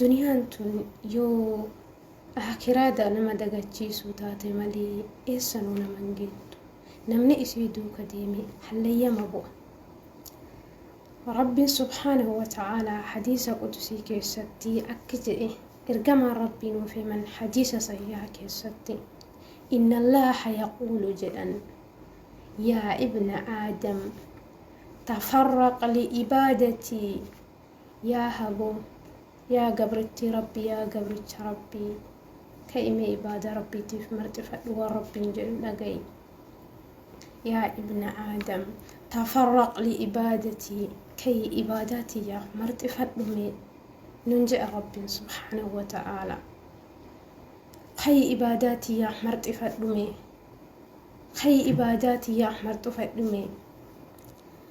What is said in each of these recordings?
Duniyaan tun yoo Aakhiraada nama dagachiisuu taate malee eessanuu nama hin geettu. Namni isii duuka deeme hallayyama bu'a. Rabbiin subhaanahu wa ta'aalaa hadiisa qudusii keessatti akki je'e ergamaan Rabbii nuuf himan hadiisa sahiiha keessatti Inna Allaaha yaquulu jedhan Yaa ibna Aadam tafarraq li'ibaadatii Yaa haboo Yaa gabrittii rabbi Yaa gabricha rabbii Ka'i mee ibaada rabbiitiif marxifadhu waan rabbiin jedhu dhaga'i Yaa ibna aadam tafarraq li ibaadatii Ka'i ibaadaa tiyyaaf marxifadhu mee nun je'a rabbiin subhaanahu wa ta'aala Ka'i ibaadaa tiyyaaf marxifadhu mee Ka'i ibaadaa tiyyaaf marxifadhu mee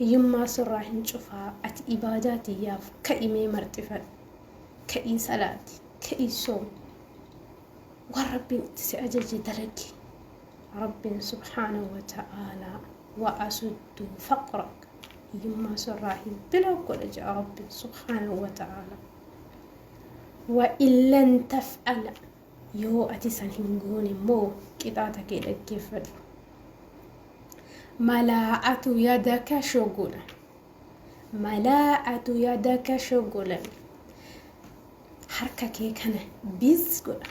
Hiyyummaa surraa hin cufaa ati ibaadaa tiyyaaf ka'i mee marxifadhu ka'ii salaati ka'ii soomi waan rabbiin itti si ajaje dalagi rabbiin subhaanahu wa ta'aalaa wa asuddu faqrak hiyyummaa surraa hin biloo godha ja'a rabbiin subhaanahu wa ta'aalaa wa illan taf'ala Yoo ati san hin goone immoo qixaaxa kee dhaggeeffadhu. Mala'atu yadaka shogulan. Mala'atu yadaka shogulan. Harka kee kana biz godha.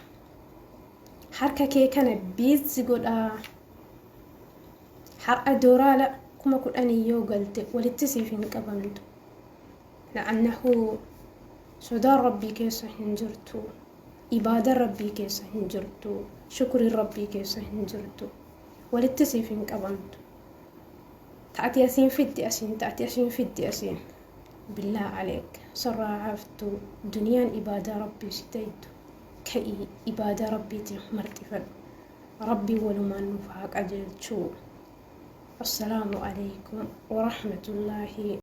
Harka kee kana biz godha. Har'a dooraala kuma kudhanii yoo galte walitti siif hin qabamtu. La'annahu sodaan Rabbii keessa hin jirtu, ibaadan Rabbii keessa hin jirtu, shukriin Rabbii keessa hin jirtu. Walitti siif hin qabamtu. Ta ati asiin fiddi asiin, ta ati asiin fiddi asiin. Billaa aleek sarraa haftu duniyaan ibaadaa Rabbii si daydu. Ka'ii ibaadaa Rabbiitiin marxifadhu. Rabbiin walumaan nuuf haa qajeelchu. Assalaamu alaikum wa rahmatullaahi.